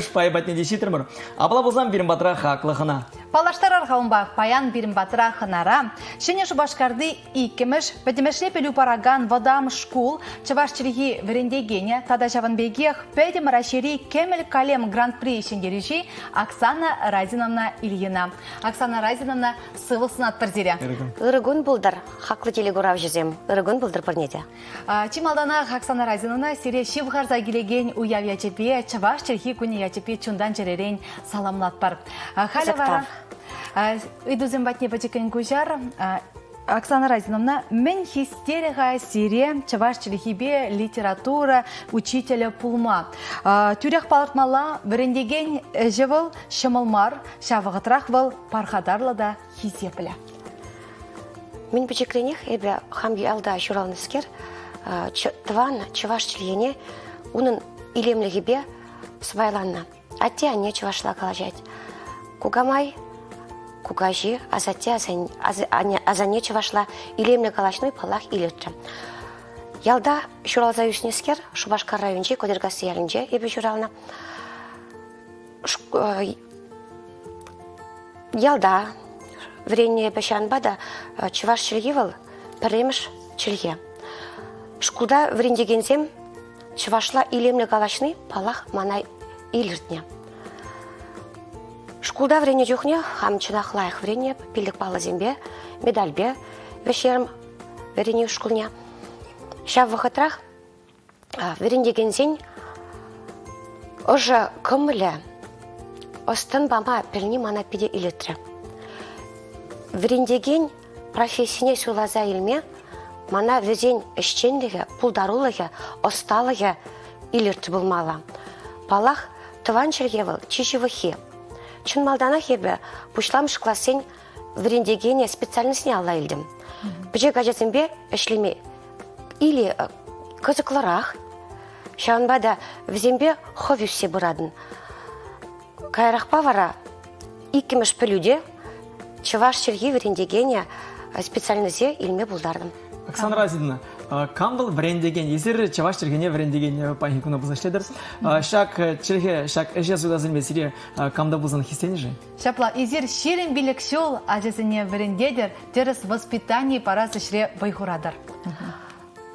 шпайӗ патне те ҫитрӗмӗр. Апла пулсан пирӗн патра хаклӑ хӑна. Паллаштарар-ха унпа, паян пирӗн патра хӑнара Ҫӗнӗ Шупашкарти иккӗмӗш, пӗтӗмӗшле пӗлӳ паракан вӑтам шкул чӑваш чӗлхи вӗрентекенӗ тата ҫавӑн пекех Пӗтӗм Раҫҫейри Кӗмӗл калем гран-при ҫӗнтерӳҫи Оксана Разиновна Ильина. Оксана Разиновна, сывлӑх сунатпӑр сире. Ырӑ кун пултӑр, хаклӑ телекуравҫӑсем. Ырӑ кун пултӑр пурне те. Чи малтанах Оксана Разинӑна сире ҫывхарса килекен уяв ячӗпе, чӑваш чӗлхи кунӗ ячӗпе чунтан чӗререн саламлатпӑр. Халӗ вара ыйтусем патне пӗчӗккӗн куҫар. Оксана Разиновна, мӗн хистерӗ-ха сире чӑваш чӗлхипе литература учителӗ пулма? Тӳрех палӑртмалла, вӗрентекен ӗҫӗ вӑл ҫӑмӑл мар, ҫав вӑхӑтрах вӑл пархатарлӑ та хисеплӗ. Мӗн пӗчӗкренех эпӗ хам ялта ҫуралнӑскер тӑван чӑваш чӗлхене унӑн илемлӗхӗпе сӑпайланнӑ. Атте-анне чӑвашла калаҫать. Кукамай кукаҫи асанне чӑвашла илемлӗ калаҫни паллах илӗртрӗ. Ялта ҫуралса ӳснӗскер Шупашкар районӗнчи Кодеркасси ялӗнче эпӗ ҫуралнӑ. ялта вӗреннӗ эпӗ ҫавӑнпа та чӑваш чӗлхи вӑл пӗрремӗш чӗлхе. Шкулта вӗрентекенсем чӑвашла илемлӗ калаҫни паллах мана илӗртнӗ. Шкулта вӗреннӗ чухне хам чӑнах лайӑх вӗреннӗ пиллӗк паллӑсемпе, медальпе вӗҫерм вӗренӳ шкулне. Ҫав вӑхӑтрах Вӗрентекенсен ӑшӑ кӑмӑлӗ, ӑс-тӑн пама пӗлни мана питӗ илӗртрӗ. Вӗрентекен профессине суйласа илме мана вӗсен ӗҫченлӗхӗ, пултарулӑхӗ, ӑсталӑхӗ илӗртнӗ пулмалла. Паллах, тӑван чӗлхе вӑл чи ҫывӑххи. Чӑн малтанах эпӗ пуҫламӑш классен вӗрентекене специальноҫне алла илтӗм. Пӗчӗк ачасемпе ӗҫлеме или э, кӑсӑклӑрах, ҫавӑнпа та вӗсемпе хӑв ӳссе пыратӑн. Каярахпа вара иккӗмӗш пӗлӳ те чӑваш чӗлхи вӗрентекенӗ э, специальноҫе илме пултартӑм. Оксана Разидовна, кам вӑл вӗрентекен? Эсир чӑваш чӗлхене вӗрентекен паянхи куна пулса ӗҫлетӗр. Ҫак чӗлхе, ҫак ӗҫе суйласемпе сире камта пулсан хистенӗ-ши? Ҫапла, эсир ҫирӗм пилӗк ҫул ачасене вӗрентетӗр, тӗрӗс воспитани парас ӗҫре вӑй хуратӑр.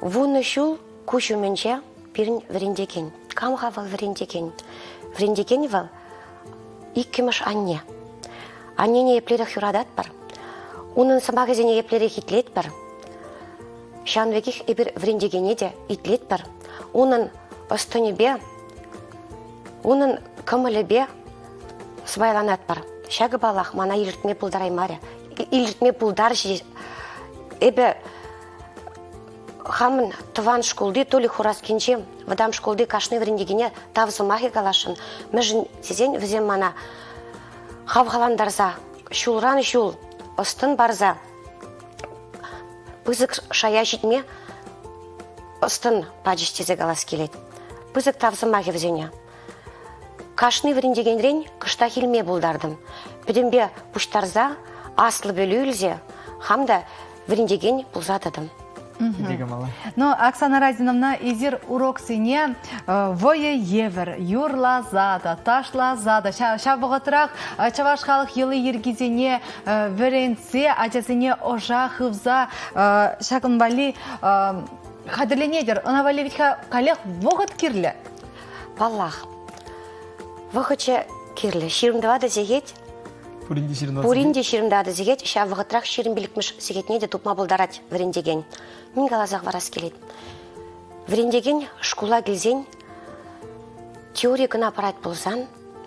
Вунӑ ҫул куҫ умӗнче пирӗн вӗрентекен, кам-ха вӑл вӗрентекен? Вӗрентекен вӑл иккӗмӗш анне. Аннене еплерех юрататпӑр, унӑн сӑмахӗсене еплерех итлетпӗр. Ҫавӑн пекех эпир вӗрентекене те итлетпӗр. Унӑн ӑс-тӑнӗпе, унӑн кӑмӑлӗпе Сӑпайланатпӑр. Ҫакӑ, паллах, мана илӗртме пултараймарӗ. Илӗртме пултарчӗ. Эпӗ хамӑн тӑван шкулти Толик Хураскинчи вӑтам шкулти кашни вӗрентекене тав сӑмахӗ каласшӑн, мӗншӗн тесен вӗсем мана хавхалантарса, ҫулран ҫул ӑс-тӑн парса пысӑк шая ҫитме ӑс-тӑн пачӗҫ тесе калас килет. Пысӑк тав сӑмахӗ вӗсене. Кашни вӗрентекенрен кӑштах илме пултартӑм. Пӗтӗмпе пуҫтарса, аслӑ пӗлӳ илсе, хам та вӗрентекен пулса тӑтӑм. Ну, Оксана Разиновна, эсир уроксене вӑйӑ евӗр юрласа та, ташласа та, ҫав вӑхӑтрах чӑваш халӑх йӑли-йӗркисене вӗрентсе ачасене ӑша хывса ҫакӑн валли хатӗрленетӗр. Ӑна валли ведь каллех вӑхӑт кирлӗ. Паллах. Вӑхӑчӗ кирлӗ. Ҫирӗм тӑватӑ сехет. Пурин те ҫирӗм тӑватӑ Пурин те ҫирӗм тӑватӑ сехет. Ҫав вӑхӑтрах ҫирӗм пилӗкмӗш сехетне те тупма пултарать вӗрентекен. Мӗн каласа хӑварас килет? Вӗрентекен шкула килсен теори кӑна парать пулсан,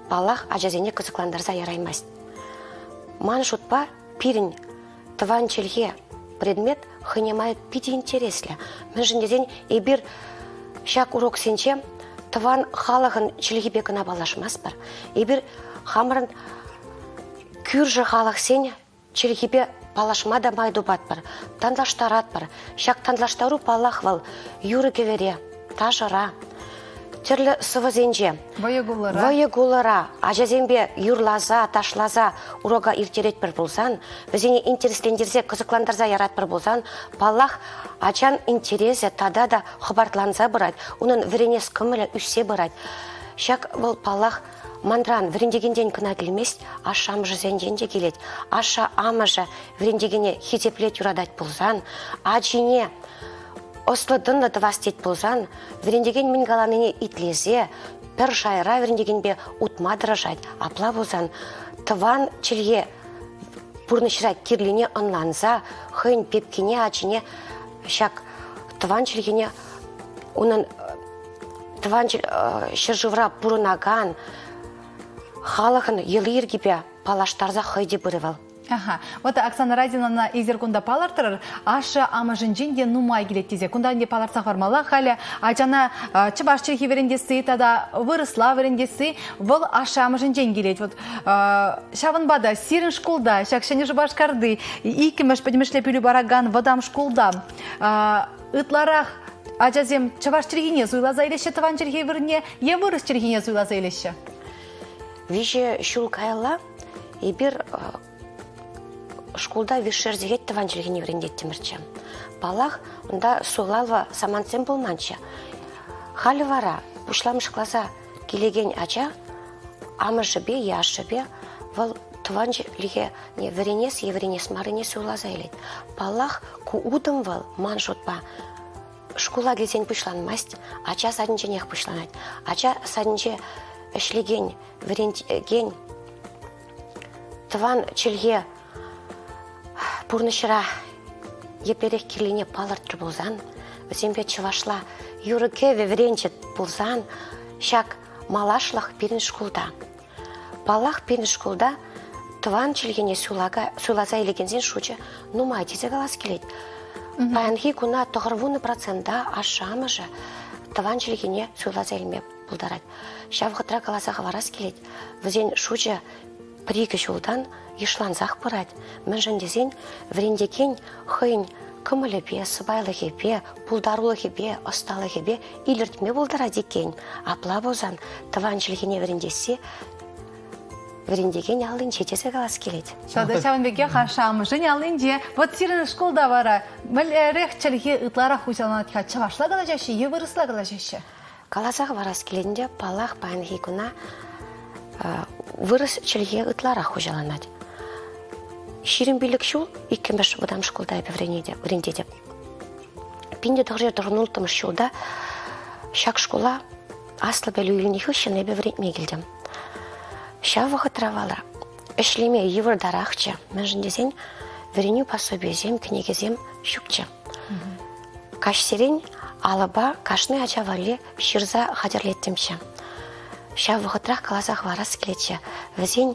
паллах, ачасене кӑсӑклантарса яраймасть. Ман шутпа, пирӗн тӑван чӗлхе предмет хӑйне май питӗ интереслӗ. Мӗншӗн тесен эпир ҫак уроксенче тӑван халӑхӑн чӗлхипе кӑна паллашмастпӑр. Эпир хамӑрӑн кӳршӗ халӑхсен чӗлхипе паллашма та май тупатпӑр, танлаштаратпӑр. Ҫак танлаштару, паллах, вӑл юрӑ-кӗвӗре, ташӑра, тӗрлӗ сӑвӑсенче, вӑйӑ-кулӑра ачасемпе юрласа, ташласа урока ирттеретпӗр пулсан, вӗсене интереслентерсе, кӑсӑклантарса яратпӑр пулсан, паллах, ачан интересӗ тата та хӑпартланса пырать, унӑн вӗренес кӑмӑлӗ ӳссе пырать. Ҫак вӑл, паллах, манран вӗрентекентен кӑна килмест, ашшӗ-амӑшӗсенчен те килет. Ашшӗ-амӑшӗ вӗрентекене хисеплет, юратать пулсан, ачине Ӑслӑ тӑнлӑ тӑвас тет пулсан, вӗрентекен мӗн каланине итлесе пӗр шайра вӗрентекенпе утма тӑрӑшать. Апла пулсан тӑван чӗлхе пурнӑҫра кирлине ӑнланса хӑйӗн пепкине, ачине ҫак тӑван чӗлхене унӑн тӑван ҫӗршывра пурӑнакан халӑхӑн йӑли-йӗркипе паллаштарса хӑй те пырӗ вӑл. Аха. Вот Оксана Радиновна эсир кунта палӑртрӑр. Ашшӗ-амӑшӗнчен те нумай килет тесе кунта ӗнтӗ палӑртса хӑвармалла. Халӗ ачана чӑваш чӗлхи вӗрентесси тата вырӑсла вӗрентесси вӑл ашшӗ-амӑшӗнчен килет. Вот ҫавӑнпа та сирӗн шкулта, ҫак Ҫӗнӗ Шупашкарти иккӗмӗш пӗтӗмӗшле пӗлӳ паракан вӑтам шкулта ытларах ачасем чӑваш чӗлхине суйласа илеҫҫӗ тӑван чӗлхе вырӑнне е вырӑс чӗлхине суйласа илеҫҫӗ? Виҫӗ ҫул каялла Эпир шкулта вишер техет тӑван чӗлхене вӗрентеттӗмӗрччӗ. Паллах, унта суйлава самантсем пулманччӗ. Халӗ вара пуҫламӑш класа килекен ача амӑшӗпе е ашшӗпе вӑл тӑван чӗлхене вӗренес е вӗренес маррине суйласа илет. Паллах, ку утӑм вӑл ман шутпа Шкула килсен пуҫланмасть, ача садӗнченех пуҫланать. Ача садӗнче ӗҫлекен, вӗрентекен, тӑван чӗлхе пурнӑҫра еплерех кирлине палӑртрӗ пулсан, вӗсемпе чӑвашла юрӑ-кӗвӗ вӗренчӗ пулсан, ҫак малашлӑх пирӗн шкулта. Паллах, пирӗн шкулта тӑван чӗлхене суйласа илекенсен шучӗ нумай тесе калас килет. Паянхи куна тӑхӑрвуннӑ процента ашшӗ-амӑшӗ тӑван чӗлхене суйласа илме пултарать. Ҫав хытра каласа хӑварас килет, вӗсен шучӗ пӗр-икӗ ҫултан йышлансах пырать, мӗншӗн тесен вӗрентекен хӑйӗн кӑмӑлӗпе, сӑпайлӑхӗпе, пултарулӑхӗпе, ӑсталӑхӗпе Илӗртме пултарать иккен. Апла пулсан тӑван чӗлхене вӗрентесси вӗрентекен аллинче тесе калас килет. Ҫавӑнпа ҫавӑн пекех ашшӗ-амӑшӗн аллинче. Вот сирӗн шкулта вара мӗнлерех чӗлхе ытларах хуҫаланать-ха? Чӑвашла калаҫаҫҫӗ, е вырӑсла калаҫаҫҫӗ? Каласа хӑварас килетӗнче, паллах, паянхи куна вырӑс чӗлхи ытларах хуҫаланать. Ҫирӗм пилӗк ҫул иккӗмӗш вӑтам шкулта эпӗ вӗрентетӗп. Пин те тӑхӑрҫӗр тӑхӑн улттӑмӗш ҫулта ҫак шкула аслӑ пӗлӳ илнӗ хыҫҫӑн эпӗ вӗрентме килтӗм. Ҫав вӑхӑтра валра ӗҫлеме йывӑртарахчӗ, мӗншӗн тесен вӗренӳ пособийӗсем, кӗнекесем ҫукчӗ. Каҫсерен алӑпа кашни ача валли ҫырса хатӗрлеттӗмччӗ. Ҫав вӑхӑтрах каласа хӑварас килетчӗ, вӗсен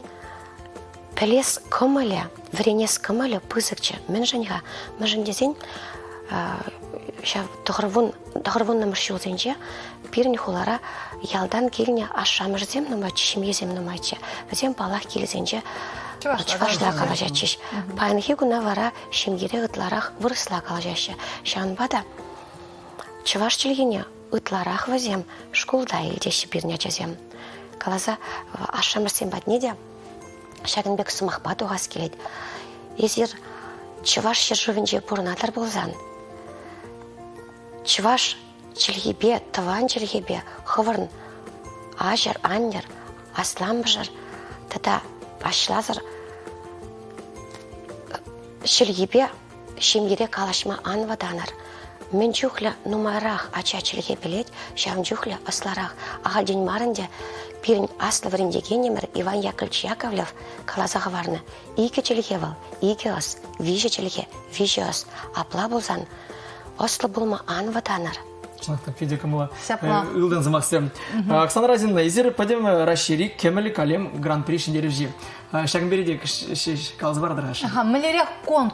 Пӗлес кӑмӑлӗ, вӗренес кӑмӑлӗ пысӑкчӗ. Мӗншӗн-ха? Мӗншӗн тесен ҫав тӑхӑрвун тӑхӑрвуннӑмӗш ҫулсенче пирӗн хулара ялтан килнӗ ашшӗ-амӑшӗсем нумайччӗ, ҫемьесем нумайччӗ. Вӗсем паллах килсенче чӑвашла калаҫатчӗҫ. Паянхи куна вара ҫемьере ытларах вырӑсла калаҫаҫҫӗ. Ҫавӑнпа та чӑваш чӗлхине ытларах вӗсем шкулта илтеҫҫӗ пирӗн ачасем. Каласа ашшӗ-амӑшсем патне те Ҫакӑн пек сӑмахпа тухас килет. Эсир Чӑваш ҫӗршывӗнче пурӑнатӑр пулсан, чӑваш чӗлхипе, тӑван чӗлхепе хӑвӑрӑн аҫӑр, аннӗр, асламӑшӑр тата аҫласӑр чӗлхипе Ҫемьере калаҫма ан вӑтанӑр. Мӗн чухлӗ нумайрах ача чӗлхе пӗлет, ҫавӑн чухлӗ ӑслӑрах. Ахальтен мар ӗнтӗ пирӗн аслӑ вӗрентекенӗмӗр Иван Яковлевич Яковлев каласа хӑварнӑ. Икӗ чӗлхе вӑл, икӗ ӑс, виҫӗ чӗлхе, виҫӗ ӑс. Апла пулсан ӑслӑ пулма ан вӑтанӑр. Питӗ кӑмӑллӑ ылтӑн сӑмахсем. Оксана Разинова, эсир пӗтӗм Раҫҫейри Кӗмӗл калем гран-при ҫӗнтерӳҫи. Ҫакӑн пирки те каласа паратӑр-ха. Мӗнлерех конкурс?